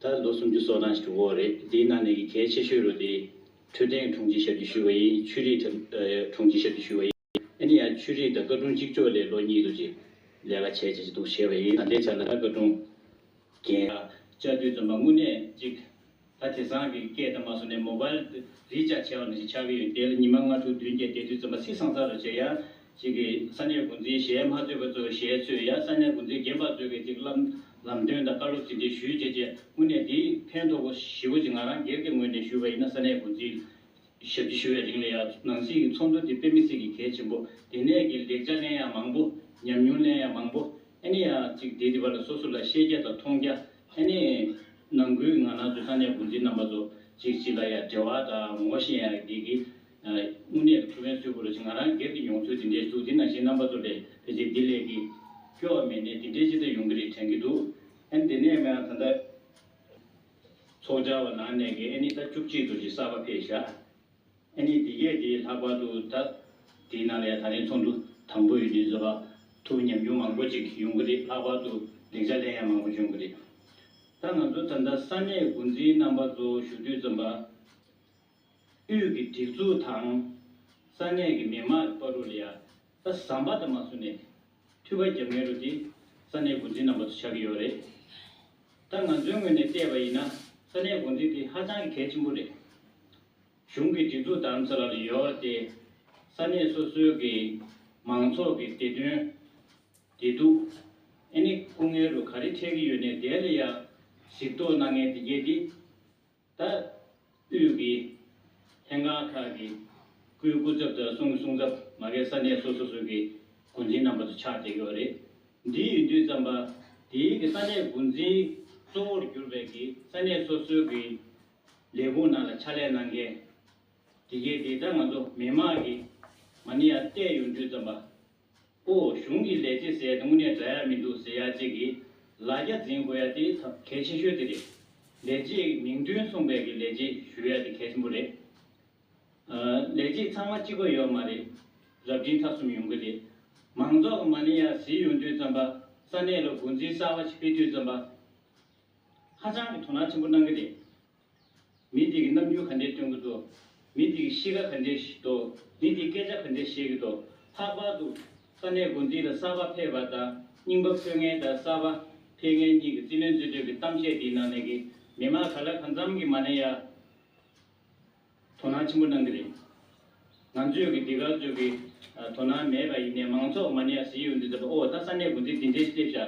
ད་ལོ་སུམ་ཅུ་སོ་ནང་ཞིག་གྲུབ་འོག་རེད་དེའི་ནང་ནས་ཀྱི་གལ་ཆེ་ཤོས་རུ་དེ། འཕྲོད་བསྟེན་གི་དྲུང་ཆེ་ཞབས་ཀྱི་ཞུ་བ་ཡིན་ཆུས་རིག་ཐབ་དྲུང་ཆེ་ཞབས་ཀྱི་ཞུ་བ་ཡིན། ཨ་ནི་ཡང་ཆུས་རིག་དང་བཀའ་དྲུང་གཅིག་ཆོག་ལས་ལོ་གཉིས་དུ་ཅིག་ལས་ཀ་བྱས་བྱས་ཅི་འདུག་བྱས་བ་ཡིན་ད་ལྟའི་ཆ་ལ་ད་བཀའ་དྲུང་རྒན། བཅའ་སྡོད་རྩོམ་པ་དངོས་གནས་ཅིག་ད་དེ་སང་གི་སྐད་ད་མ་སོང་ནས་མོ་བལ་རིས་ཅག་བྱས་བ་ནང་ཞིག་ཆགས་ཀྱི་ཡོད་དེ་ལ་ཉི་མ་ལྔ་དྲུག་བདུན་བརྒྱད་དེ་དུས་རྩོམ་པ་སི་སང་ཚར་ར་བྱས་ཡ་ཅིག་གིས་ས་གནས་འགོ་འཛིན་གཞས་མ་གཙོས་པ་གཙོས་གཞས་གཙོས་ཡ་ས་གནས་འགོ་འཛིན་རྒན་པ་གཙོས་མཁན་ཅིག་ལམ་ལམ་སྟོན་དང་བཀའ་སློབ་ཟིན་བྲིས་ཞུས་རྗེས་རྗེས་སྔོན་ནས་འདི་ཕན་ཐོགས་པོ་ཞི་བོ་ཅིག་ང་རང་སྒེར་གྱི་ངོས་ནས་ཞུས་པ་ཡིན་ན་ས་གནས་འགོ་འཛིན་ཞབས་ཕྱི་ཞུ་བའི་རིང་ལ་ཡ་ནང་སྲིད་ཀྱི་ཚོགས་འདུ་འདི་དཔེ་མི་སྲིད་ཀྱི་གལ་ཆེན་པོ་དེ་ནས་ཀྱི་ལེགས་ཆ་གླེང་ཡག་མང་པོ་ཉམས་མྱོང་གླེང་ཡག་མང་པོ་ཨེ་ནི་ཡ་ཅིག་འདི་འདི་བ་ལ་སོ་སོ་ལ་ཤེས་རྒྱ་དང་མཐོང་རྒྱ་ཨེ་ནི། ནང་ཁུལ་གྱི་ང་ནང་ཚུལ་ས་གནས་འགོ་འཛིན་རྣམ་པ་ཚོ་ཅིག་ཅིག་ལ་ཡ་འབྲེལ་བ་དང་ངོ་ཤེས་ཡག་འདི་གི། དངོས་གནས་ཀྱི་ཐུགས་ཕན་གསོས་བུ་རུ་ཆེ་ང་རང་སྒེར་གྱི་མྱོང་ཚོར་དེ་འདྲའི་ཟུག་འདི་ནང་བཞིན་རྣམ་པ་སྟོར་བྲལ་དེ་ཚེ་འདི་ལས་ཀྱི། སྐྱོ་བ་མེད་གནས་དེ་འདྲའི་ཅི་ལྟར་ཡོང་གི་རེད་དྲན་གྱི་འདུག་ཨན་དེ་ནས་མོ་ཡང་ད་ལྟ། ཚོགས་བཅར་བ་ནང་གནས་ཀྱི་ཨན་ནི་ད་བཅུ་གཅིག་འདུག་ཅེས་གསར་པ་ཕེབས་བཞག་ཨན་ནི་འདི་གས་དེའི་ལྷག་པར་དུ་ད། དེའི་ནང་ལ་ཡང་ད་རིང་ཚོགས་འདུ་དང་པོ་ཡོད་དུས་བཟོ་པ་ཐུགས་ཉམས་ཆུང་མང་པོ་ཅིག་ཡོང་གི་རེད་ལྷག་པར་དུ་ལེགས་ཆ་ལན་ཡང་མང་པོ་བྱུང་གི་རེད། ད་ང་ཚོ་ད་ལྟ་ས་གནས་འགོ་འཛིན་རྣམ་པ་ཚོ་བཞུགས་དུས་རྩོམ་པ། དབུས་ཀྱི་སྒྲིག་འཛུགས་དང། ས་གནས་ཀྱི་མི་དམངས་ཀྱི་པར་རོ་ལི་ཡ་ད་ཟམ་པ་ད་མ་སུ་ནས་འཐུས་པ་རྒྱབ་ངེས་རོ་དེ་ས་གནས་འགོ་འཛིན་རྣམ་པ་ཚོ་ཆགས་ཀྱི་ཡོད་རེད། ད་ང་ཚོའི་ངོས་ནས་བལྟས་པ་ཡིན་ན་ས་གནས་འགོ་འཛིན་དེ་ཧ་ཅང་གི་གལ་ཆེན་པོ་རེད། གཞུང་གི་སྒྲིག་འཛུགས་དམ་ཚ་ལ་ལ་ཡོད་ར་དེ་ས་གནས་སོ་སོའི་གི་མང་ཚོགས་ཀྱི་བདེ་དོན། བདེ་སྡུག། ཨེ་ནི་སྐུ་ངལ་རུ་ག་རེ་འཕྲད་ཀྱི་ཡོད་ནས་དེ་ལ་ཡ་གཟིགས་རྟོག་གནང་ངེས་དེ་རྒྱས་དེ། ད་དུས་ཀྱི་ལྷན་ཁང་ཁག་གི་སྐུའི་སྐུ་ཚབ་དང་གསུང་གི་གསུང་ཚབ་མ་གའི་ས་གནས་སོ་སོ་སོ་གི་འགོ་འཛིན་རྣམ་པ་ཚོ་ཕྱག་འདེབས་ཡོད་པ་རེད། འདི་ཡིན་དུས་རྩམ་པ་དེའི་གི་ས་གནས་འགོ་འཛིན་གཙོ་བོར་གྱུར་པའི་གི་ས་གནས་སོ་སོའི་གི་ལས་ཁུངས་ནང་ལ་ཕྱག་ལས་གནང་མཁན་དེ་གའི་དེ་ལྟར་ང་ཚོ་མི་དམངས་ཀྱི་མ་ཎི་ཡང་བལྟས་ཡོང་དུས་རྩམ་པ་པོ་གཞུང་གི་ལས་བྱེད་ཟེར་དངོས་གནས་འདྲ་ཡ་མི་འདུག་ཟེར་ཡ་གཅིག་གིས་ལ་རྒྱ་འཛིན་དགོས་ཡ་དེ་གལ་ཆེ་ཤོས་དེ་རེད། ལས་བྱེད་ཀྱི་མིང་དོན་མཚུངས་པའི་གི་ལས་བྱེད་ཞུ་ཡ་དེ་གལ་ཆེན་པོ་རེད། ལས་བྱེད་ཚང་མ་གཅིག་པ་ཡོད་མ་རེད། རབ་འབྲིང་ཐ་གསུམ་ཡོང་གི་རེད། མང་ཚོགས་ཀྱི་མ་ནི་ཡ་ཟི་ཡོང་དུས་བརྩོན་པ་ས་གནས་ལ་འགོ་འཛིན་གསར་བ་ཞིག་ཕེབས་དུས་བརྩོན་པ་ཧ་ཅང་གི་དོ་སྣང་ཆེན་པོ་གནང་གི་རེད། མི་དེ་གི་རྣམ་འགྱུར་ག་འདྲའི་སྟོན་གི་འདུག། མི་དེ་གི་གཤིས་ཀ་ག་འདྲའི་འདུག་མི་དེ་སྐད་ཆ་ག་འདྲའི་བཤད་གི་འདུག་ལྷག་པར་དུ། ས་གནས་དགོན་སྡེ་ལ་གསར་པ་ཕེབས་པ་དང་རྙིང་པ་འཕོས་མཁན་དང་གསར་པ་ཕེབས་མཁན་གཉིས་ཀྱི་རྩིས་ལེན་རྩིས་སྤྲོད་ཀྱི་གཏམ་བཤད་དེའི་ནང་ནས་ཀྱི་མི་མང་ག་ལ་གང་འཚམ་གྱི་མ་ནས་ཡ། དོ་སྣང་ཆེན་པོ་གནང་གི་རེད། ང་ཚོས་ཀྱི་འདི་ག་ཚོས་ཀྱི་དོ་སྣང་མེད་པ་ཡིན་ནའི་མང་ཚོགས་མ་ནི་ཡ་ཟི་ཡོད་འདུག་ཟེར་བ་ཨོ་ད་ས་གནས་དགོན་སྡེ་འདི་འདྲའི་སྟེ་བཞག་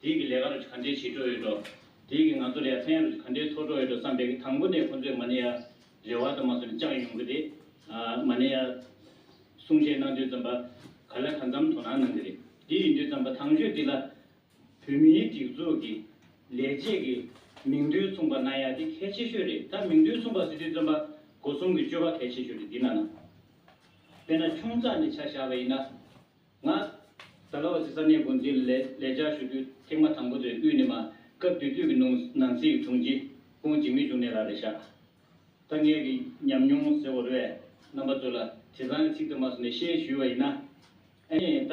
དེའི་ཀྱི་ལས་ཀ་རུ་གྱི་ག་འདྲའི་བྱེད་འགྲོ་ཡོད་འགྲོ། དེའི་ཀྱི་ང་ཚོ་ལ་ཡ་ཚན་རུ་གྱི་ག་འདྲའི་འཚོ་འགྲོ་ཡོད་འགྲོ་བསམ་པའི་ཀྱི་དང་པོ་ནས་ཁོང་ཚོས་མ་ནི་ཡ་རེ་བ་དང་མ་སོ་ནི་བཅག་ཡོང་གི་རེད། མ་ནི་ཡ་གསུང་བཤད་གནང་དུས་ཙམ་པ་ག་ལ་ག་འཚམ་དོ་སྣང་གནང་གི་རེད། དེ་ཡིན་དུས་ཙམ་པ་ཐང་ཤོད་འདི་ལ་བོད་མིའི་སྒྲིག་འཛུགས་ཀྱི་ལས་བྱེད་ཀྱི་མིང་རྡུལ་མཚུངས་པ་གནང་ཡག་འདི་གལ་ཆེ་ཤོས་རེད་ད་མིང་རྡུལ་མཚུངས་པ་སྲིད་དོན་བཙོན་པ་སྒོ་སྲུང་གི་སྤྱོད་པ་གལ་ཆེ་ཤོས་རེད་འདི་གནང་ན་དཔེར་ན་ཆུང་ཙག་ནས་ཆ་བཞག་པ་ཡིན་ན་ང། ཟ་ལ་བ་སི་ས་གནས་དགོན་འཛིན་ལ་ལས་ལས་བྱ་ཞུ་དུས་ཐེངས་མ་དང་པོ་དེ་དབུས་ནས་མ་སྐབས་བདུད་བདུད་ཀྱི་ནང་ནང་སྲིད་ཀྱི་དྲུང་ཆེ་ཀོང་འཇིགས་མེད་བྱུང་ནས་ལ་རེ་བཞག་ད་ངས་ཀྱི་ཉམས་མྱོང་ཟེར་བ་རེ་བས་རྣམ་པ་ཚོས་ལ་དེ་སང་གི་ཚིག་དུ་མ་སོང་ནས་ཤེས་ཞུས་བ་ཡིན་ན་ཨེ་ཡིན་ད།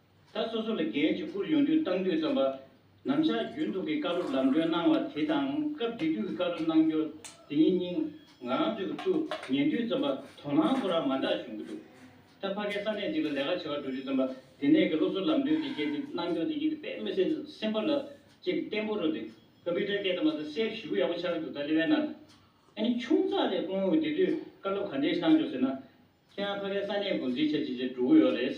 ས་སོ་སོ་ལ་རྒྱལ་གཅེས་བཀུར་ཡོང་དུས་བཏང་དུས་རྩོམ་པ་ནམ་ཞག་རྒྱུན་དུ་གི་བཀའ་སློབ་ལམ་སྟོན་གནང་བ་དེ་དང་སྐབས་འདི་དུས་ཀྱི་བཀའ་སློབ་གནང་སྐྱོར་དེ་ཉིད་སྙིང་ང་རང་ཚོའི་ཚུ་ཉེན་དུས་རྩོམ་པ་དོ་སྣང་ཐོ་རངས་མ་འདྲ་བྱུང་གི་འདུག་ད་ཕ་གའི་ས་གནས་འདི་ལ་ལས་ཀ་བྱེད་པར་འགྲོ་དུས་རྩོམ་པ་དེ་ནས་གི་སློབ་གསོ་ལམ་སྟོན་དེ་བྱས་ཏེ་གནང་སྐྱོར་དེ་ཉིད་དུ་པད་མོ་སེར་སེམས་པ་ལ་ཅེས་ཏེ་བརྟན་པོ་རོ་དེ་ཀ་པི་ཏྲ་སྐད་དུ་མ་ཚ་སེར་བཞི་བོ་ཡག་པོ་ཆགས་ཀྱི་འདུག་ད་ལི་བའི་ནང་ཨ་ནི་ཆུང་ཙག་ལས་སྔོན་འོས་དེ་དུས་བཀའ་སློབ་ག་འདྲའི་ཞིག་གནང་བྱུང་ཟེར་ན་ཁྱེད་རང་ཕ་གའི་ས་གནས་འགོ་འཛིན་བྱ་བྱེད་ཅེས་འགྲོ་གི་ཡོད་རེད།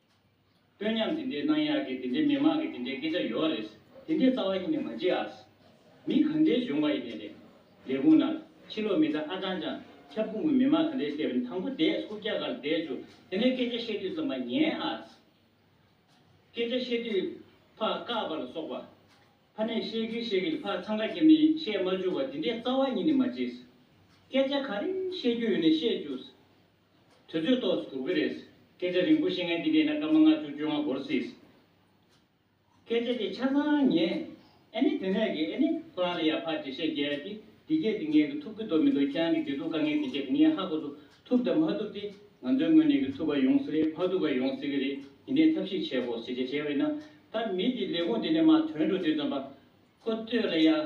སྟོན་མཉམ་དེ་འདྲའི་གནང་ཡག་གི་དེ་འདྲའི་མི་མང་གི་དེ་འདྲའི་སྐད་ཆ་ཡོད་རེད། དེ་འདྲའི་རྩ་བ་ཡིན་ནས་མ་བརྗེད་ཨ། མི་གང་འདྲའི་གཞོང་བ་ཡིན་ནས་རེད། ལས་ཁུངས་ནང་ཕྱི་ལོག་མི་ཚ་ཨ་ཀྲང་ཀྲང་ཁྱབ་ཁུངས་ཀྱི་མི་མང་གང་འདྲའི་སེར་དང་པོ་འདས་སུ་སྐྱ་གར་འདས་ཆུ་དེ་འདྲའི་སྐད་ཆ་བཤད་དུས་ཙམ་མ་ཉན་ཨ། སྐད་ཆ་བཤད་དུས་ཕ་བཀག་པ་ལ་སོགས་པ། ཕ་ནས་བཤད་གིན་བཤད་གིན་ཕ་འཚང་ཁ་ཁྱེར་ནས་བཤད་མ་བཅུག་པ་དེ་འདྲའི་རྩ་བ་ཡིན་ནས་མ་བརྗེད། སྐད་ཆ་ག་རེ་བཤད་རྒྱུ་ཡོད་ནས་བཤད་བཅུག། དུས་ཚོད་ཏོག་ཙི་དགོས་ཀྱི་རེད། སྐད་ཆ་རིང་པོ་བཤད་མཁན་འདི་མེད་ན་སྐར་མ་ལྔ་བཅུ་བཅོ་ལྔ་འགོར་སྲིད། སྐད་ཆ་དེ་ཆ་ཚང་ཉན། ཨེ་ནི་དེ་ནས་ཀྱི་ཨེ་ནི་ཁོ་རང་ལ་ཡར་ཕར་འགྲེལ་བཤད་རྒྱག་གི་འདི་སྐད་དེ་ངས་ཀྱི་ཐུབ་ཀྱི་འདུག་མི་འདུག་ཁྱེད་རང་གྱི་བརྗོད་ཐུབ་དཀའ་ངས་འདི་སྐད་དེ་ངས་ཧ་གོ་ཐུབ་ཐུབ་དང་མ་ཐུབ་དེ་ང་ཚོའི་ངོས་ནས་ཀྱི་ཐུབ་པ་ཡོང་སྲིད་རེད་མ་ཐུབ་པ་ཡོང་སྲིད་ཀྱི་རེད་འདི་ནས་ཐབས་ཤེས་བྱེད་དགོ་ཟེར་བྱས་བྱས་བས་ན་ད་མི་དེ་ལས་ཁུངས་དེ་ནས་མ་དོན་འགྲོ་དུས་ཙམ་པ་ཁོ་ལྟོས་ལ་ཡར།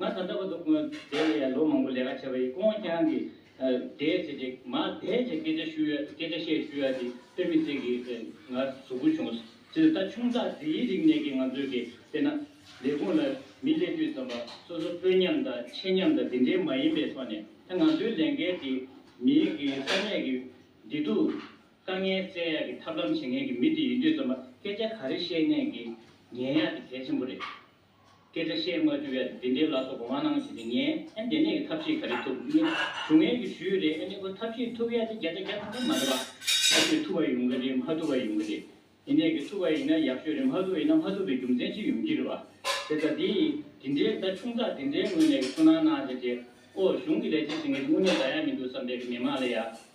ང་དང་འདྲ་བར་འདུག་དེ་ལ་ཡང་ལོ་མང་པོ་ལས་ཀ་བྱས་པ་ཡིན་ཀོང་རྐྱང་གིས། དེའི་ཚེ་རྗེས་མ་དེའི་ཚེ་སྐད་ཆ་བཤུ་ཡ་སྐད་ཆ་བཤད་བཤུ་ཡ་དེ་དཔེ་མི་ཚིག་གིས་དེ་ང་ཟུག་སྒུལ་བྱུང། ཚེ་ད་ཆུང་དག་དེའི་རིག་གནས་ཀྱིས་ང་ཚོས་ཀྱིས་བལྟས་ན། ལས་ཁུངས་ལ་མི་སླེབས་དུས་ཙམ་པ་སོ་སོ་དཔོན་ཉམས་དང་ཆེ་ཉམས་དང་དེ་འདྲའི་མ་ཡིན་པའི་ཐོག་ནས་ད་ང་ཚོའི་ལས་འགན་དེ་མིའི་གི་ས་གནས་ཀྱི་བདེ་སྡུག། དཀའ་ངལ་བསལ་ཡ་གི་ཐབས་ལམ་བྱེད་མཁན་གྱི་མི་དེ་ཡིན་དུས་ཙམ་པ་སྐད་ཆ་ག་རེ་བཤད་ནས་ཀྱིས་ཉན་ཡ་དེ་གལ་ཆེན་པོ་རེད། སྐད་ཆ་བཤད་མ་རྒྱུ་ཡ་དེ་འདྲའི་ལ་སོགས་དགོངས་མ་གནང་ཞེས་དེ་ངས་ཨེ་འདས་ནས་ཀྱི་ཐབས་ཤེས་ག་རེ་ཐུབ་ཨེ་ནི་ཞུ་ངན་གྱི་ཞུ་ཡུལ་རེད་ཨེ་ནི་ཨོ་ཐབས་ཤེས་ཐུབ་ཡ་དེ་བརྒྱ་ཆ་བརྒྱ་ཐམ་ཐམ་མ་རེད་པ། ཐབས་ཤེས་ཐུབ་པ་ཡོང་གི་རེད་མ་ཐུབ་པ་ཡོང་གི་རེད་ཨེ་ནས་ཀྱི་ཐུབ་པ་ཡིན་ན་ཡག་ཤོས་རེད་མ་ཐུབ་ཡིན་ན་མ་ཐུབ་པའི་རྒྱུ་མཚན་ཅི་ཡོང་གི་རེད་པ། དེ་ལྟ་དེ་ཡིན་དེ་འདྲའི་རྩ་ཆུང་དག་དེ་འདྲའི་ངོས་ནས་ཀྱི་ཚུར་སྣང་གནང་ཞེས་དེ་ཨོ་གཞུང་གི་ལས་བྱེད་ཟེར་མཁན་གྱི་དངོས་གནས་ག་ཡ་མི་འདུག་བསམ་པའི་ཀྱི་མི་མང་ལ་ཡ།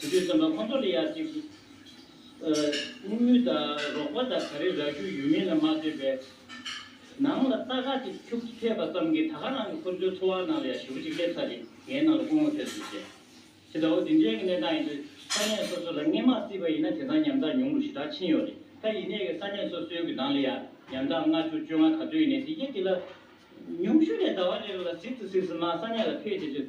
དེ་དུས་བཙོན་པ་ཁོང་ཚོ་ལ་ཡག་ཅིག་བསྔོ་སྨོན་དང་རོགས་པ་དང་ག་རེ་རག་རྒྱུ་ཡོད་མིན་ལ་མ་ལྟོས་པའི་ནང་ལ་རྟ་ཁ་ཅིག་འཁྱུག་ཐེབས་པ་ཙམ་གྱིས་ད་ག་རང་གི་ཁོང་ཚོའི་འཚོ་བ་ནང་ལ་ཡ་ཞུ་བོ་ཅིག་སླེབས་ཚར་རེད་ངའི་ནང་ལ་སྐུ་ངོ་ཐེབས་སོང་ཟེར། ཇི་ལྟ་བུ་འདི་འདྲའི་གི་གནས་སྟངས་ཡིན་དུས་ས་གནས་སོ་སོ་ལ་སྔས་མ་བརྩིས་པ་ཡིན་ན་དེ་སང་ཉམས་ཐག་ཉུང་རུ་ཞེ་དྲག་ཕྱིན་ཡོད་རེད་ད་ཡིན་ནའི་གི་ས་གནས་སོ་སོའི་གི་ནང་ལ་ཡ་ཉམས་ཐག་ལྔ་བཅུ་བཅོ་ལྔ་ག་ཚོད་ཡིན་ནའི་དེ་ཡེ་དེ་ལ་ཉུང་ཤུ་ནས་ཟླ་བ་རེ་རེ་ལ་ཟིག་ཏུ་ཟིག་ཟིག་མ་ས་གནས་ལ་ཕེབས་དེ་དུས་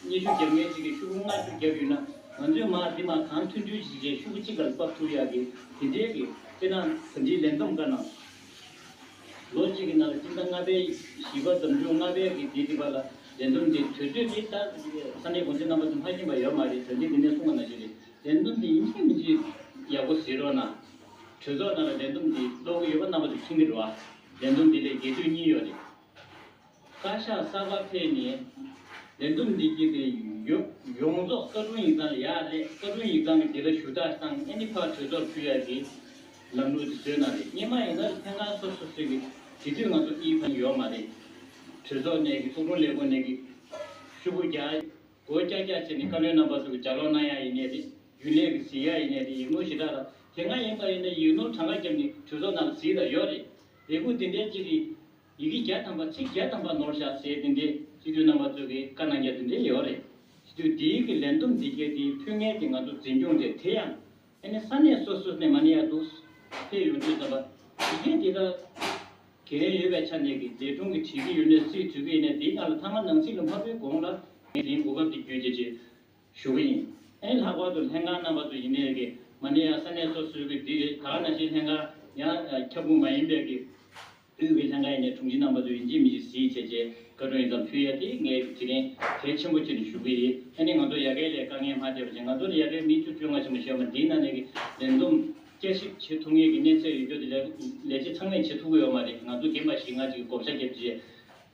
སྙེ་ཤུགས་བརྒྱབ་མཁན་གཅིག་གིས་ཤུགས་ལྔ་ཤུགས་བརྒྱབ་ཡོད་ན། ང་ཚོས་མར་འདི་མ་གང་མཐུན་འགྲུལ་བྱེད་བྱེད་ཤུགས་གཅིག་ལ་འབབ་ཐུབ་ཡག་གི་དེ་འབྲེལ་གི་སྤྱིར་ན་ད་འདྲིའི་ལས་འདོམས་དཀའ་ན། ལོ་གཅིག་གི་ནང་ལ་སྤྱིར་ན་ལྔ་པའི་བཞི་པ་འདོམས་འགྲུལ་ལྔ་པའི་གི་དེ་འདི་བར་ལ་ལས་འདོམས་འདི་དུས་ཚོད་འདི་ལྟར་ས་གནས་དགོངས་ཚུལ་རྣམ་པ་ཚོ་སྨྲ་གྱིན་པ་ཡོད་མ་རེད་ད་འདི་འདི་ནས་གསུང་བ་ན་ཞིག་རེད། ལས་འདོམས་འདི་ཡིན་གཅིག་མིན་གཅིག་ཡག་པོ་གཟིགས་རོགས་གནང། གྲོས་ཚོགས་ནང་ལ་ལས་འདོམས་འདི་ཀློག་གི་ཡོད་པ་རྣམ་པ་ཚོ་མཁྱེན་གྱི་རོགས་ཨ། ལས་འདོམས་འདི་ལས་རྒྱས་བསྡུས་གཉིས་ཡོད་རེད། བཀའ་ཤག་གསར་པ་ཕེབས་ནས་ལས་འདུམ་འགྲིག་གི་རེད། ཡོངས་རྫོགས་བཀའ་དྲུང་ཡིག་ཚང་ལ་ཡག་ལས་བཀའ་དྲུང་ཡིག་ཚང་གི་འདི་ལ་ཞུ་དག་སྟངས་ཨེ་ནི་ཕར་གྲོས་ཚོགས་ཕུལ་ཡག་གི་ལམ་ལུགས་དེ་བཟོས་ན་རེད་རྙེད་མ་ཡིན་ན་རེད་ཐེངས་ཁང་སོ་སོ་སོས་གི་དེ་དུས་ང་ཚོ་ཨི་ཕན་ཡོག་མ་རེད་གྲོས་ཚོགས་ནས་གི་ཚོགས་དྲུང་ལས་ཁུངས་ནས་གི་ཤུ་བུ་རྒྱག་གོ་རྒྱག་རྒྱག་བྱས་ནས་བཀའ་བློན་རྣམ་པ་ཚོ་གི་ལྗགས་ལོག་གནང་ཡག་ཡིན་ནའི་རེད་རྒྱུན་ལས་གི་ཟིག་ཡག་ཡིན་ནའི་རེད་ཡིག་ནོར་ཞེ་དྲག་དང་དེ་ང་ཡིན་པ་ཡིན་ན་ཡིག་ནོར་གྲངས་ཀ་རྒྱབ་ནི་གྲོས་ཚོགས་ནང་ལ་ཟིག་དང་ཡོག་རེད་ལས་ཁུངས་དེ་འདྲའི་གཅིག་གི་ཡི་གེ་བརྒྱ་ཐམ་པ་ཚིག་བརྒྱ་ཐམ་པ་ནོར་བཞག་ཟེར་དེ་འདྲའི་སྤྱི་འཐུས་རྣམ་པ་ཚོ་གི་བཀའ་གནང་རྒྱ་དེ་འདྲའི་ཡོད་རེད། སྤྱི་འཐུས་འདིའི་གི་ལན་དུམ་འདི་ཁྱེར་དེའི་ཕུད་ངན་དེ་ང་ཚོ་འཛིན་སྐྱོང་རེད་དེ་ཡང། ཨེ་ནི་ས་གནས་སོ་སོས་ནས་མ་ནི་ཡག་འདུག། ཕེབས་ཡོང་དུས་ཙམ་པ། ཡི་གེ་འདི་དག་གི་ལན་ཡོད་པའི་ཆ་ནས་གི་ལས་དྲུང་གི་བྲིས་གི་ཡོད་ནོས་སི་དུས་གི་ཡེ་ནས་འདིའི་ནང་ལ་ཐ་མ་ནང་ཚིག་ལ་མ་ཕུལ་གོང་ལ། ངས་འདིའི་གོ་སྐབས་འདི་བརྒྱུད་དེ་ཅི། ཞུ་གི་ཡིན། ཨེ་ལྷག་པར་དུ་ལྷན་ཁང་རྣམ་པ་ཚོ་ཡིན་ནའི་གི་མ་ནི་ཡང་ས་གནས་སོ་སོའི་གི་འདི་རེད་ད་ན་ཞིག་ལྷན་ཁང་ཡང་ཁྱབ་ཁུངས་མ་ཡིན་པའི་གི་དབུས་གི་ལྷན་ཁང་ཡིན་ནའི་དྲུང་ཆེ་རྣམ་པ་ཚོ་ཡིན་གཅིག་མིན་གཅིག་གཟིགས་བྱས་རྗེས་བཀའ་དྲུང་ཡིན་ཙམ་ཕུལ་ཡ་དེ་ངའི་གི་དྲི་ལན་གལ་ཆེན་པོ་ཆེ་ནི་ཞུ་གི་ཡིན་ཨེ་ནི་ང་ཚོ་ཡ་གའི་ལས་དཀའ་ངལ་མ་ཐེབས་པ་བྱས་ང་ཚོ་ནི་ཡ་གའི་མི་བཅུ་བཅོ་ལྔ་ཆེན་པོ་བྱས་པ་འདི་ན་ནས་གི་ལས་འདུམ་བསྐྱར་ཞིབ་བྱེད་ཐུབ་ངེས་གི་གནས་ཚད་ཡོད་རྒྱུ་དེ་ལས་ལས་བྱེད་ཚང་མས་བྱེད་ཐུབ་གི་ཡོད་མ་རེད་ང་ཚོ་རྒན་པ་ཞིག་ངག་ཅིག་གི་བགོ་བཤའ་རྒྱབ་རྗེས།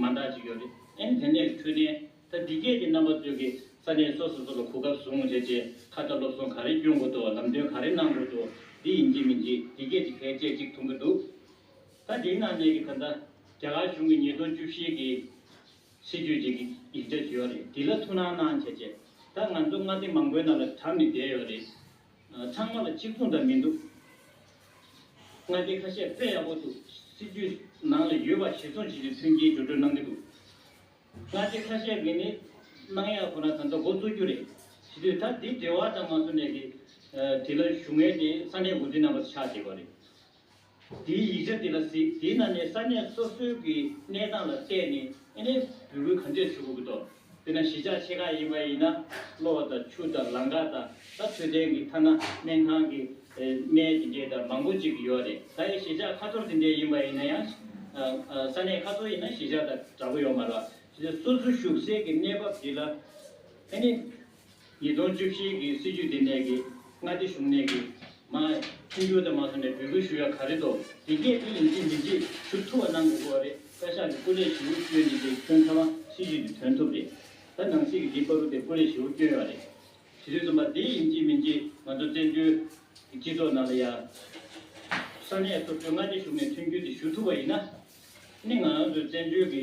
མ་འདང་ཅིག་ཡོད་རེད་ཨེ། དེ་ནས་འཕྲོས་དན་ད་འདི་སྐད་ཀྱི་རྣམ་པ་སྟོན་གི་ས་གནས་སོ་སོ་སོ་ལ་གོ་སྐབས་བཟུང་རེད་དེ་ཁ་བརྡ་སློབ་སོང་ག་རེ་སྐྱོན་དགོས་དོ་ལམ་སྟོན་ག་རེ་གནང་དགོས་དོ་འདི་ཡིན་གྱི་མིན་གྱི་འདི་སྐད་ཅིག་བེད་སྤྱད་ཅིག་ཐུང་གི་འདུག་ད་འདིའི་ནང་གནས་ཀྱི་ད་ལྟ་རྒྱ་གར་གཞུང་གི་ཉིས་སྟོང་བཅུ་བཞི་གི་སྲིད་ཇུས་ཀྱི་ཡིག་ཆ་ཞུས་ཡོད་རེད་འདི་ལ་ཐུགས་སྣང་གནང་བྱས་རྗེས་ད་ང་ཚོ་མངའ་སྡེ་མང་པོའི་ནང་ལ་དྲངས་ནས་བསྡད་ཡོད་རེད། ཚང་མ་ལ་གཅིག་མཚུངས་འདྲ་མི་འདུག། མངའ་སྡེ་ཁ་ཤས་དཔེ་ཡག་པོ་འདུག་སྲིད་ཇུས་ནང་ལ་ཡོད་པ་བཞི་ཚོགས་བྱེད་ཀྱི་མཐུན་རྐྱེན་སྦྱོར་སྤྲོད་གནང་གི་འདུག་མངའ་སྡེ་ཁ་ཤས་མི་ནི་གནང་ཡག་ཁོ་ན་ད་ལྟ་འགོ་གཙོ་རྒྱུ་རེད་བྱེད་དུས་ད་འདི་འབྲེལ་བ་དང་མ་མཚོན་ནས་དེ་དེ་ལ་ཞུ་ངེས་ཏེ་ས་གནས་འགོ་འཛིན་རྣམ་པ་ཆགས་བསྡད་པ་རེད། དེའི་ཡིག་ཆ་དེ་ལ་གཟིགས་དེའི་ནང་ནས་ས་གནས་སོ་སོའི་གི་གནས་སྟངས་ལ་བལྟས་ནས་ཨེ་ནས་འབོད་སྐུལ་ག་འདྲས་ཞུ་དགོས་ཀི་འདུག་དེ་ན་གཞིས་ཆགས་ཆེ་ཁག་ཡིན་པ་ཡིན་ན་གློ་བ་དང་ཆུ་དང་ལང་ཀ་དང་ད་འཕྲོད་བསྟེན་གི་ཐ་ན་སྨན་ཁང་གི་སྨན་དེ་འདྲས་དང་མང་པོ་ཅིག་གི་ཡོད་རེད་ད་ཡི་གཞིས་ཆགས་ཁ་ཐོར་དེ་འདྲས་ཡིན་པ་ཡིན་ན་ཡང་ས་གནས་ཁ་ཐོར་ཡིན་ན་གཞིས་ཆགས་དང་འདྲ་པོ་ཡོད་མ་རེད་བ། གཞིས་ཆགས་སོ་སོ་ཞུགས་སའི་གི་གནས་བབ་དེ་ལ་ཨེ་ནས་ཉིས་སྟོང་བཅུ་བཞི་གི་སྲིད་ཇུས་འདི་ནས་ཀྱི་མངའ་སྡེ་གཞུང་ནས་ཀྱི་མ། མཐུན་འགྱུར་དང་མ་སོང་ནས་འབོད་སྐུལ་ཞུ་ཡ་ག་རེ་དོ། དེ་སྐད་དུ་ཡིན་ཚེ་མི་རྗེས་ཞུ་ཐུ་བ་གནང་དགོས་གོ་རེད་བཀའ་ཤག་གི་སྐུ་ལས་ཞི་བོ་བསྐྱོན་འདི་དེ་ཁྱོད་ཚང་མ་སྲིད་ཇུས་འདི་དོན་ཐུབ་རེད་ད་ནང་སྲིད་ཀྱི་འདི་པ་རུ་དེ་སྐུ་ལས་ཞི་བོ་བསྐྱོན་ཡོ་རེད་དེ་དུས་རྩོམ་པ་འདི་ཡིན་གཅིག་མིན་གཅིག་ང་ཚོ་བཙན་བྱོལ་གྱི་སྤྱི་ཚོགས་ནང་ལ་ཡ། ས་གནས་སོ་སོའི་མངའ་སྡེ་གཞུང་ནས་མཐུན་འགྱུར་དེ་ཞུ་ཐུབ་པ་ཡིན་ན། ནི་ང་ཚོ་བཙན་བྱོལ་གྱི་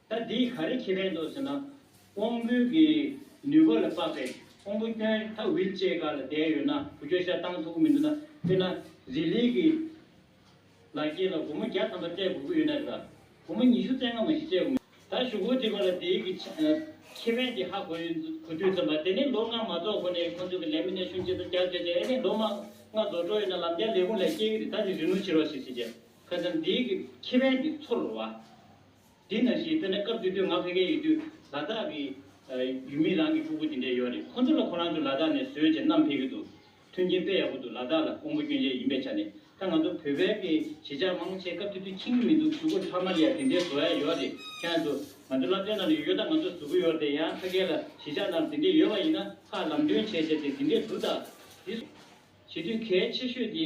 ད་འདིས་ག་རེ་ཁྱེད་པས་འདོད་ཟེར་ན། དབང་པོའི་གི་ནུས་པ་ལ་དཔག་པའི་དབང་པོ་སྐྱོན་མཐའ་བིལ་བཅས་ག་ལ་བསྡད་ཡོད་ན་བུ་ཁྱོད་ཤ་སྟང་མཐུག་པོ་མི་འདུག་ན་དཔེར་ན་རི་ལིའི་གི་ལ་སྐྱེས་ལ་སྒོར་མོ་བརྒྱ་ཐམ་པ་སྤྲད་དགོས་ཀྱི་ཡོད་ན་རེད་ལ་སྒོར་མོ་ཉི་ཤུ་རྩེ་ལྔ་མ་ཞིག་སྤྲད་དགོས་མེད་ད་ཞུ་གུར་འདི་ག་ལ་འདིའི་གི་ཁྱེད་པས་འདི་ཧ་གོ་ཡོད་གོ་དུས་ཙམ་པ་དེ་ནས་ལོ་ལྔ་མ་རྫོགས་གོང་ནས་ཁོང་ཚོས་གི་ལས་མི་སྣས་ཤུན་ཅི་ད་རྒྱག་བྱས་ཏེ་ཨེ་ནས་ལོ་མ་ལྔ་རྫོགས་འགྲོ་ཡོད་ན་ལམ་རྒྱག་ལས་ཁུངས་ལས་སྐྱེས་གི་རེད་ད་འདི་རི་ནུ་བྱེད་རོགས་ཞེས་ཟེར་རྗེས་ཁ་ཙམ་འདིའི་གི་ཁྱེད་པས་འདི་ཚུར་རོ་བ། དེ་ན་ཞེས་བོས་ན་སྐབས་དེ་དུས་ང་བྷེ་ཀལ་ཡོད་དུས་ལ་དྭགས་ཀྱི། ཡུལ་མི་རང་གི་ཕྲུ་གུ་དེ་འདྲས་ཡོད་རེད་ཁོ་ཚོ་ལ་ཁོ་རང་ཚོ་ལ་དྭགས་ནས་བཟོས་ཅེས་གནམ་བྷེ་ཀལ་དུ། མཐུན་རྐྱེན་དཔེ་ཡག་པོ་འདུག་ལ་དྭགས་ལ་ཀོང་པོ་སྐྱོན་ཅན་ཡིན་པའི་ཆ་ནས་ད་ང་ཚོ་བོད་བྷེ་ཀལ་གྱི་གཞིས་ཆགས་མང་པོ་ཆེ་སྐབས་དེ་དུས་ཁྱིམ་གྱི་མི་འདུག་གཟུགས་པོ་ཐ་མ་ལ་ཡང་དེ་འདྲས་བཟོ་ཡ་ཡོད་རེད་ཁྱེད་རང་ཚོ། ང་ཚོ་བླ་བྲེ་ན་ལ་ཡོད་ད་ང་ཚོ་གཟུགས་པོ་ཡོད་དེ་ཡང་བྷེ་ཀལ་ལ་གཞིས་ཆགས་ན་ལ་དེ་འདྲས་ཡོད་པ་ཡིན་ན་ཁ་ལམ་སྟོན་བྱས་བྱས་ཏེ་དེ་འདྲས་འདུག་ད། དེ། བྱེད་དུས་གལ་ཆེ་ཤོས་དེ།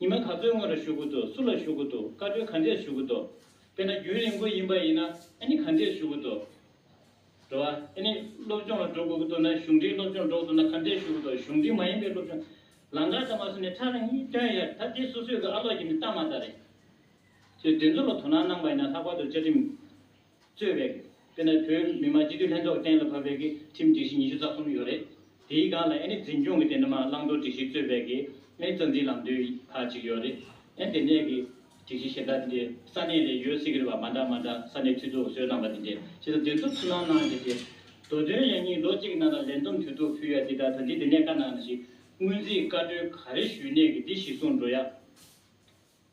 ཉི་མ་ག་ཚོད་སྔོན་ར་ཞུ་གི་འདུག་སུ་ལ་ཞུ་གི་འདུག་བཀའ་འཁྲོལ་ག་འདྲས་ཞུ་གི་འདུག་དཔེར་ན་རྒྱུན་རིང་པོ་ཡིན་པ་ཡིན་ན་ཨ་ནི་ག་འདྲས་ཞུ་གི་འདུག་འགྲོ་བ་ཨ་ནི་སློབ་སྦྱོང་ལ་འགྲོ་དགོས་ཀྱི་འདུག་ན་གཞུང་འབྲེལ་སློབ་སྦྱོང་འགྲོ་གི་འདུག་ན་ག་འདྲས་ཞུ་གི་འདུག་གཞུང་འབྲེལ་མ་ཡིན་པའི་སློབ་སྦྱོང་ལང་ཀར་ད་མ་སོང་ནས་ཁྲག་རིང་གཉིས་བཏོན་ཡོད་ད་དེ་སོ་སོས་ཀྱི་ཨ་ལོག་གྱི་ནི་གཏམ་མ་རྟ་རེད། ཚོས་དེ་ཚོ་ལ་དོ་སྣང་གནང་པ་ཡིན་ན་ལྷག་པར་དུ་བཅའ་ཁྲིམས་གཙོས་པའི། དཔེར་ན་བོད་མི་མང་སྤྱི་འཐུས་ལྷན་ཚོགས་གཏན་ལ་ཕབ་པའི་ཀྱི་ཁྲིམས་སྒྲིག་གཞི་ཉི་ཤུ་རྩ་གསུམ་ཡོད་རེད། དེའི་སྒང་ལ་ཨེ་ནི་འཛིན་སྐྱོང་གི་དེ་འདྲ་མ་བླང་དོར་སྒྲིག་གཞི་གཙོས་པའི་ཀྱི་ཨེ་རྩ་འཛིན་ལམ་སྟོན་ཁག་ཅིག་ཡོད་རེད། ཨེ་དེ་ནས་ཀྱི་སྒྲིག་གཞི་གཞན་དག་དེ་འདྲས་ས་གནས་ལས་ཡོད་སྲིད་ཀྱི་རེད་པ་མ་འདྲ་མ་འདྲ་ས་གནས་འཐུས་ཚོགས་གསོལ་གནང་པ་དེ་འདྲས་ཕྱི་ཟླ་བདུན་ཚོགས་ཆུང་ནང་གནང་རྗེས་དེ། མདོ་དོན་ཡང་གཉིས་ལོ་གཅིག་གི་ནང་ལ་ལས་འདུམ་དུས་ཐོག་ཕུལ་ཡ་དེ་དག་ད་འདི་དེ་ནས་བཀའ་གནང་ན་ཞིག་སྔོན་རྩིས་བཀའ་འཁྲོལ་ག་རེ་ཞུས་ནས་ཀྱི་འདི་ཞིག་གསུངས་འགྲོ་ཡ།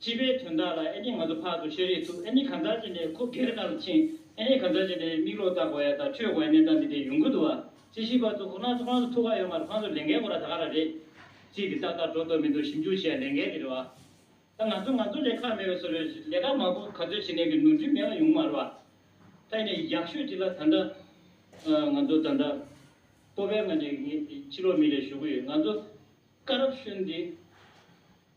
སྤྱི་པའི་དོན་དག་ལ་ཨེ་ནི་ང་ཚོ་ཕག་ཏུ་བཤད་རེས་ཐུབ་ཨེ་ནི་གང་ཟག་ཅིག་ནས་ཁུ་སྒེར་ནང་ལ་ཕྱིན་ཨེ་ནི་གང་ཟག་ཅིག་ནས་མིག་ལོག་ལྟ་དགོས་ཡ་དང་ཁྲོས་དགོས་ཡ་གནས་སྟངས་འདི་འདྲའི་ཡུང་ཁུ་འདུག་བ་ཅི་ཞིག་པ་ཚོ་ཁོ་ནག་ཚོ་ཁང་སོ་ཐུག་ག་ཡོད་མ་རེད་ཁང་སོ་ལེན་མཁན་ཁོ་ར་ད་ག་ར་རེད་ཅིག་དེ་ཏག་ཏག་འགྲོ་ཐུབ་མི་འདུག་ཞིབ་འཇུག་བྱས་ཡ་ལེན་མཁན་རེད་བ་ད་ང་ཚོ་ང་ཚོ་ལས་ཁ་མེད་བས་སོ་རེད་ལས་ཀ་མང་པོ་ག་ཚོད་བྱེད་ནས་གི་ནོར་འཁྲུལ་མེད་པ་ཡོང་གི་མ་རེད་བ་ད་ཡིན་ནའི་ཡག་ཤོས་ཅིག་ལ་ད་འདྲ་ང་ཚོ་ད་འདྲ་པོ་བས་ང་ནི་ཕྱི་ལོག་མི་རེད་ཞུ་གི་ཡོད་ང་ཚོ་བཀའ་རབ་གཞོན་འདི།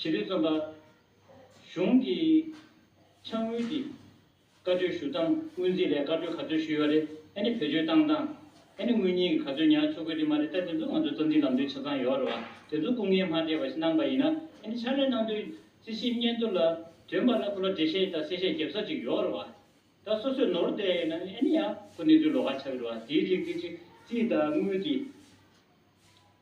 བྱེད་པའི་རྩོམ་པ། གཞུང་གི་ཕྱག་དངུལ་གྱིས་བཀའ་འཁྲོལ་ཞུ་སྟངས་སྔོན་རྩིས་ལས་བཀའ་འཁྲོལ་ག་ཚོད་ཞུས་ཡོད་རེད་ཨ་ནི་བེད་སྤྱོད་བཏང་སྟངས་ཨ་ནི་དངུལ་རྙིང་གི་ག་ཚོད་ཉར་ཆོག་གི་རེད་མ་རེད་ད་དེ་ཚོ་ང་ཚོ་རྩོམ་སྒྲིག་ལམ་སྟོན་ཆ་ཚང་ཡོད་རེད་བ་དེ་ཚོ་སྐུ་ངལ་མ་སྤྲད་པ་ཞིག་གནང་པ་ཡིན་ན་ཨ་ནི་ཕྱག་ལས་གནང་དོན་རྩིས་ཞིབ་སྙན་ཐོ་ལ་དོན་པ་ལ་ཁོ་ལ་འགྲེལ་བཤད་དང་གསལ་བཤད་བརྒྱབ་ས་ཅིག་ཡོད་རེད་བ་ད་སོ་སོས་ནོར་བསྡད་ཡོད་ན་ཨ་ནི་ཡང་ཁོ་གནས་ཚུལ་ལོགས་ཀ་ཆགས་གི་རེད་བ་དེའི་རིགས་དེ་ཚིག་དང་དངུལ་གྱི།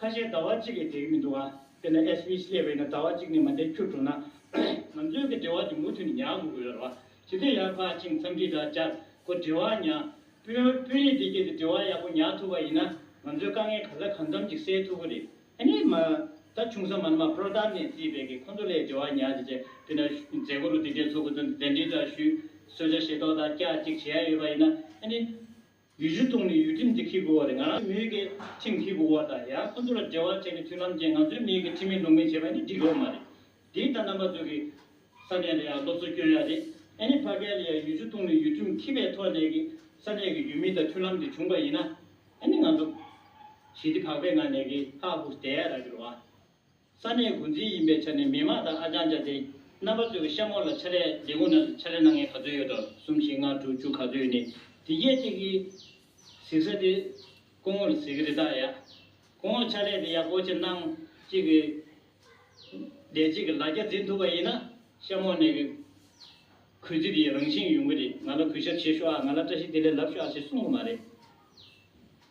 ཁ་ཤས་ཟླ་བ་གཅིག་གིས་འདེགས་མི་འདུག་ཨ། དེ་ནི་ཨེས་བྷི་སླེ་བྷེ་ནི་ཟླ་བ་གཅིག་ནས་མ་འདེགས་ཁྱུར་འགྲོ་ན། ང་ཚོའི་གི་འབྲེལ་བ་དེ་མུ་མཐུད་ནས་ཉག་དགོས་ཀྱི་ཡོད་རེད་བ། ཇི་སྟེ་ཡར་ཕར་ཕྱིན་མཚམས་འདྲི་དང་སྦྱར་གོ་འབྲེལ་བ་ཉག། དཔོན་དཔོན་རིགས་འདི་གྱི་དེ་འབྲེལ་བ་ཡག་པོ་ཉག་ཐུབ་པ་ཡིན་ན། ང་ཚོའི་དཀའ་ངལ་ག་ས་གང་འཚམ་ཅིག་སེལ་ཐུབ་གི་རེད། ཨ་ནི་མ། ད་ཆུང་ས་མ་ནི་མ་པྲོ་ཏར་ནས་བརྩིས་པའི་གི་ཁོ་ཚོ་ལས་འབྲེལ་བ་ཉག་ཅིག་བྱས་དུས་ན། མཛད་སྒོ་རུ་དེ་འདྲའི་ཚོགས་འཁུར་ཚོ་འདི་གདན་འདྲེན་འདྲ་ཞུས། གསོལ་ཇ་ཞེ་ཏོག་དང་སྐྱག་ཅིག་བྱེད་ཡ་ཡོད་པ་ཡིན་ན། ཨ་ནི། ཡུལ་ཆུ་བཏུངས་ནས་ཡུལ་ཁྲིམས་དེ་འཁྱེར་དགོས་བ་རེད་ང་རང་མི་ཡུལ་གྱི་ཁྲིམས་འཁྱེར་དགོས་བ་དང་ཡང་ཁོ་ཚོ་ལ་འབྲེལ་བ་བྱས་ནས་མཐུན་ལམ་བྱས་ང་ཚོའི་མི་ཡུལ་གྱི་ཁྲིམས་མེད་ལུགས་མེད་བྱས་པ་ནི་འགྲིག་གི་ཨོ་མ་རེད་འདི་ད་ནང་པ་ཚོ་གི་ས་གནས་ལ་ཡང་སློབ་གསོ་སྐྱོན་ཡག་རེད་ཨེ་ནི་ཕ་གལ་ལ་ཡང་ཡུལ་ཆུ་བཏུངས་ནས་ཡུལ་ཁྲིམས་འཁྱེར་པའི་ཐོག་ནས་ཀྱི་ས་གནས་ཀྱི་ཡུལ་མི་དང་མཐུན་ལམ་དེ་བྱུང་པ་ཡིན་ན་ཨེ་ནི་ང་ཚོ་ཞི་བདེ་བག་པའི་ངང་ནས་ཀྱི་ཧ་ཧུ་བསྡད་ཡག་རག་གི་རོ་ཨ། ས་གནས་འགོ་འཛིན་ཡིན་པའི་ཆ་ནས་མི་དམངས་དང་ཨ་ཅང་བཅའ་སྟེ་རྣམ་པ་ཚོས་ཀྱི་ཤ་མོ་ལ་ཕྱ་རེས་འདི་གོ་ན་ཕྱ་རེས་ན་ངས་ག་ཚོད་ཡོད་དོ་གསུམ་བཞི་ལྔ་དྲུག་བཅུ་ག་ཚོད་ཡོད་ནི་དེ་སྐད་ཅིག་གིས། གཟིགས་ས་དེ་སྐུ་ངོ་ལ་གཟིགས་གི་རེད་དཱ་ཡ། སྐུ་ངོ་ཕྱ་རེས་དེ་ཡག་པོ་ཆེ་གནང། གཅིག་གིས། བདེ་སྐྱིད་ཀྱི་ལ་རྒྱ་འཛིན་ཐུབ་པ་ཡིན་ན། ཤ་མོ་ནས་གི། གུས་བརྩི་དེའི་རང་བཞིན་ཡོང་གི་རེད་ང་ལ་གུས་ཞབས་བྱེད་ཤོག་ཨ་ང་ལ་བཀྲ་ཤིས་བདེ་ལེགས་ལབ་ཤོག་ཨ་ཞེས་གསུང་གི་མ་རེད།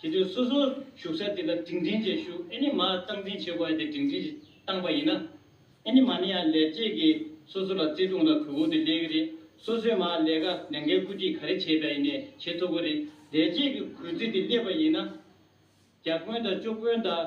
དེ་དུས་སོ་སོ་བཞུགས་ས་དེ་ལ་འབྲིང་ཕྲན་བཅས་བཞུགས་ཨེ་ནི་མ་སྟངས་འཛིན་བྱེད་དགོས་ཡ་དེ་འབྲིང་ཕྲན་བཅས་བཏང་པ་ཡིན་ན། ཨེ་ནི་མ་ནི་ཡང་ལས་བྱེད་ཀྱི་སོ་སོ་ལ་བརྩེ་དུང་ལ་གུས་བཀུར་དེ་སླེ་གི་རེད་སོ་སོས་མ་ལས་ཀ་ལས་འགལ་བཀུར་སྟི་ག་རེ་བྱེད་པ་ཡིན་ནས་བྱེད་ཐུབ་གི་རེད་ལས་བྱེད་ཀྱི་གུས་བརྩི་དེ་སླེ་པ་ཡིན་ན། རྒྱ་དཔོན་དང་ཅོ་དཔོན་དང།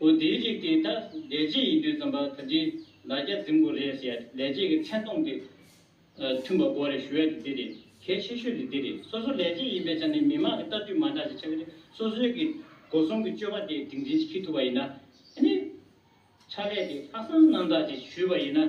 བུ་དེའི་རིགས་དེ་དག་ལས་རྗེས་ཡིན་དུས་རྩོམ་པ་ཐ་དྲི་ལ་རྒྱ་འཛིན་དགོས་རེད་ཟེར་ཡ་ལས་རྗེས་ཀྱི་མཚན་སྟོང་དེ། མཐུན་པ་དགོས་རེད་ཞུ་ཡ་དེ་འདི་རེད་གལ་ཆེ་ཤོས་དེ་འདི་རེད་སོ་སོ་ལས་རྗེས་ཡིན་པའི་ཆ་ནས་མི་མང་གི་ལྟ་དུས་མ་འདྲ་ཞིག་ཆགས་ཀྱི་རེད་སོ་སོའི་གི་སྒོ་སྲུང་གི་སྤྱོད་པ་དེ་དིང་འཛིན་ཅིག་ཁི་ཐུབ་པ་ཡིན་ན་ནི། ཕྱག་ལས་དེ་ལྷག་བསམ་རྣམ་དག་ཅིག་ཞུས་པ་ཡིན་ན།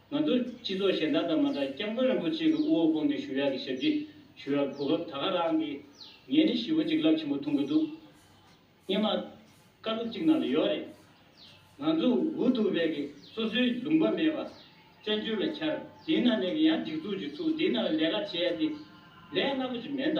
ང་ཚོ་སྤྱི་ཚོགས་གཞན་དག་དང་མ་འདྲ་སྐྱབས་མགོན་རིན་པོ་ཆེ་གི་དབུ་འོག་ཁོང་ནས་ཞུ་ཡག་གི་ཞབས་ཀྱི་ཞུ་རག་གོ་བབ་ད་ག་རང་གི། ངས་ནི་ཞི་བོ་གཅིག་རླབས་ཆེན་པོ་མཐོང་གི་འདུག་སྙེ་མ། བཀའ་སློབ་གཅིག་ནང་ལ་ཡོད་རེད། ང་ཚོ་འུ་ཐུག་བས་གི་སོ་སོའི་ལུང་པ་མེད་པ། བཙན་བྱོལ་ལ་འཁྱར་དེའི་ནང་ནས་གི་ཡང་སྒྲིག་འཛུགས་ཀྱི་ཚུགས་དེའི་ནང་ལ་ལས་ཀ་བྱེད་ཡ་དེ། ལས་སླ་པོ་ཅིག་མེད་ད།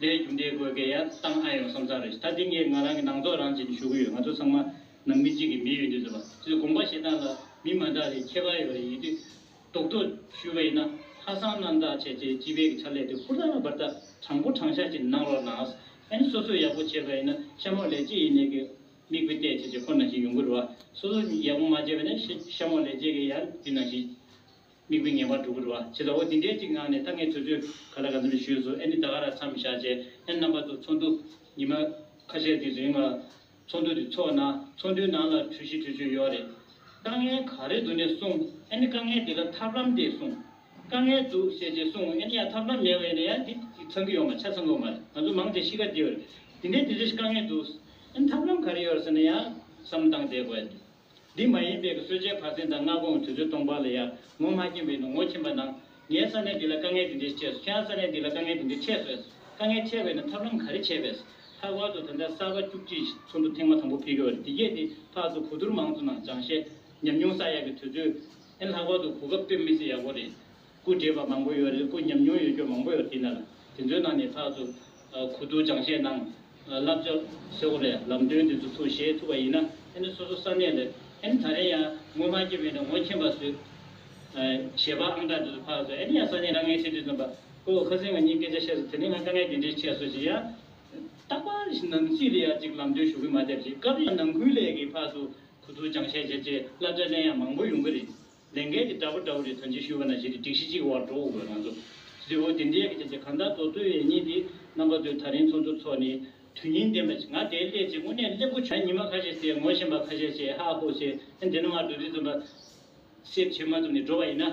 ལས་རྒྱུ་འབྲས་དགོས་གལ་ཡ་བཏང་ཨ་ཡོང་བསམ་ཚར་རེད་ད་འདི་ངས་ང་རང་གི་ནང་ཚོགས་རང་བྱེད་ནས་ཞུ་གི་ཡོད་ང་ཚོ་ཚང་མ་ནང་མི་གཅིག་གི་མི་ཡོད་འདུག་ཟེར་བ་དེ་ཚོ་དགོངས་པ་བཞེས་སྟངས་ལ་མི་མ་འདག་རེད་ཁྱད་པར་ཡོད་རེད་ཡིན་དུས་རྡོག་རྡོག་ཞུས་པ་ཡིན་ན་ཧ་སང་རྣམ་དག་བྱས་རྗེས་སྤྱི་པའི་གི་ཕྱག་ལས་དེ་ཧུར་ཐག་བར་ཐག་དྲང་པོ་དྲང་བཞག་ཅིག་གནང་རོགས་གནང་ཨཱ་སོ་སོ་ཡག་པོ་བྱས་པ་ཡིན་ན་ཤ་མོག་ལས་བྱེད་ཡིན་ནས་གི་མིག་དཔེ་བལྟས་བྱས་བྱས་ཁོ་ན་ཞིག་ཡོང་གི་རེད་བ་སོ་སོ་ཡག་པོ་མ་བྱས་པ་ནས་ཤ་མོག་ལས་བྱེད་གི་ཡ་འདི་ན་ཞིག། མིག་དཔེ་ངན་པར་འགྲོ་གི་རུ་བ་བྱེད་ད་ཨོ་དེ་འདྲའི་ཅིག་ངང་ནས་ད་ངས་ཚོད་ཚོད་ག་ལ་ག་ཚོད་ལ་ཞུས་སོ་ཨེ་ནི་ད་ག་ར་ཚམ་བཞག་བྱས་ཨེ་རྣམ་པ་ཚོ་ཚོགས་འདུ་ཉི་མ་ཁ་ཤས་དེ་རིང་ལ་ཚོགས་འདུ་དེ་ཚོགས་ན་ཚོགས་འདུའི་ནང་ལ་གྲོས་གཞི་གྲོས་ཆོད་ཡོད་རེད་དཀའ་ངལ་ག་རེ་འདུག་ནས་གསུང་ཨེ་ནི་དཀའ་ངལ་དེ་ལ་ཐབས་ལམ་དེ་གསུང་དཀའ་ངལ་འདུག་ཞེས་བྱས་གསུང་ཨེ་ནི་ཡང་ཐབས་ལམ་མེད་བས་ནས་ཡང་དེ་དེ་ཚང་གི་ཡོད་མ་ཆ་ཚང་གི་མ་རེད་ང་ཚོ་མང་ཆེ་གཤིས་ཀ་དེ་ཡོད་རེད་དེ་འདྲའི་དེ་འདྲའི་ཞིག་དཀའ་ངལ་འདུག་ཨེ་ནི་ཐབས་ལམ་ག་རེ་ཡོད་རེད་ཟེར་ནས་ཡང་བསམ་བློ་བཏང་བསྡད་དགོས་ཡོད་རེད། འདི་མ་ཡིན་པའི་གསོད་བྱའི་བར་ཚིང་དང་སྔ་གོང་གི་དུས་ཚོད་སྟོང་པར་ལ་ཡར་ངོ་མ་སྐྱེན་པའི་ནུ་ངོ་ཁྱིམ་པ་ན། ངའི་ས་གནས་འདི་ལ་དཀའ་ངལ་འདི་འདྲས་ཆེ་སོ་ཁྱེད་རང་ས་གནས་འདི་ལ་དཀའ་ངལ་འདི་འདྲས་ཆེ་སོ་ཨེ། དཀའ་ངལ་ཆེ་བས་ན་ཐབས་ལམ་ག་རེ་བྱས་པས། ལྷག་པར་དུ་ད་ལྟ་གསར་པ་བཅུ་གཅིག་གི་ཚོགས་འདུ་ཐེངས་མ་དང་པོ་ཕེབས་ཡོད་པ་རེད་འདི་གས་འདི་ཕག་ཚོ་གོ་དུར་མང་ཚོ་ནང་སྦྱང་བཤད་ཉམས་མྱོང་ས་ཡག་གི་དུས་ཚོད། ཨེ་ལྷག་པར་དུ་གོ་སྐབས་སྟོན་མི་སེ་ཡག་པོ་རེད། སྐུ་བགྲེས་པ་མང་པོ་ཡོད་རེད་སྐུ་ཉམས་མྱོང་ཡོད་རྒྱུ་མང་པོ་ཡོད་དེ་ན་དེ་ཚོའི་ནང་ནས་ལྷག་ཏུ་གུ་དུག་སྦྱང་བྱེད་ནང་བསླབ་བྱ་ཧྲིལ་བོ་ལས་ལམ་སྟོན་དེ་ཚོ་ཚུར་བཞེས་ཐུབ་པ་ཡིན་ན་ཨེ་ནི་སོ་སོ་ས་གནས་ལས་ཨེ་ནི་ད་རེང་ཡང་ངོ་མ་སྐྱེ་མེད་ན་ངོ་མཁྱེན་པ་བཟོས་བཞེས་པ་ཨང་གྲངས་དེ་ཚོ་ཕག་བཟོས་ཨེ་ནི་ཡང་ས་གནས་རང་ངའི་ཆེད་དུ་བརྩོན་པ་ཁོ་བོ་ཁ་སེང་ང་གཉིས་སྐད་ཆ་བཤད་སོ་དེ་ནས་ང་དཀའ་ངལ་དེ་འདྲའི་ཆེ་སོ་ཞེས་ཡང་རྟག་པར་ནང་སྲིད་ལ་ཡང་ཅིག་ལམ་སྟོན་ཞུ་གི་མ་བསྡད་ཅིག་སྐབས་རེ་ཡང་ནང་ཁུལ་ལས་ཀྱི་ཕག་ཏུ་གུ་དུག་སྦྱང་བྱེད་བྱེད་ཅེས་བསླབ་བྱ་གླེང་ཡང་མང་པོ་ཡོང་གི་རེད། ལས་འགན་དེ་འདྲ་པོ་འདྲ་བོ་རེ་དོན་ཆེན་ཞུས་པ་ན་གཞི་དེ་སྒྲིག་གཞི་གཅིག་གི་བར་འགྲོ་འོང་བའི་ང་ཚོ། གཟི་འོད་དེ་འདྲའི་ཡ་གི་ཆ་ཆེ་གང་དག་མདོ་སྟོད་ཡན་གཉིས་དེ་རྣམ་པ་དོན་ཐ་རིང་ཚོགས་འདུ་འཚོགས་ནས་དོན་སྙིང་ལྡན་པ་ཞིག་ང་དེའི་སླད་ཅིག་དངོས་གནས་གླེན་པོ་བྱུང་ཉི་མ་ཁ་ཤས་ཟད་ངོ་ཤེས་པ་ཁ་ཤས་བྱས་ཧ་ཧོ་བྱས་ཨེ་འདི་ནི་སྔར་འདུག་འདི་འཛོམས་པ་སེབས་བྱེད་མ་ཐུབ་ནས་འགྲོ་བ་ཡིན་ན་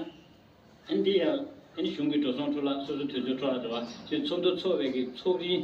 ཨེ་འདི་ཡང་ཨེ་ནི་གཞུང་གི་འགྲོ་སོང་འཕྲོ་བརླག་སོ་སོ་དུས་ཚོད་འཕྲོ་བརླག་འགྲོ་བ་ཞེས་ཚོགས་འདུ་འཚོགས་བས་ཀྱི་ཚོགས་རིང།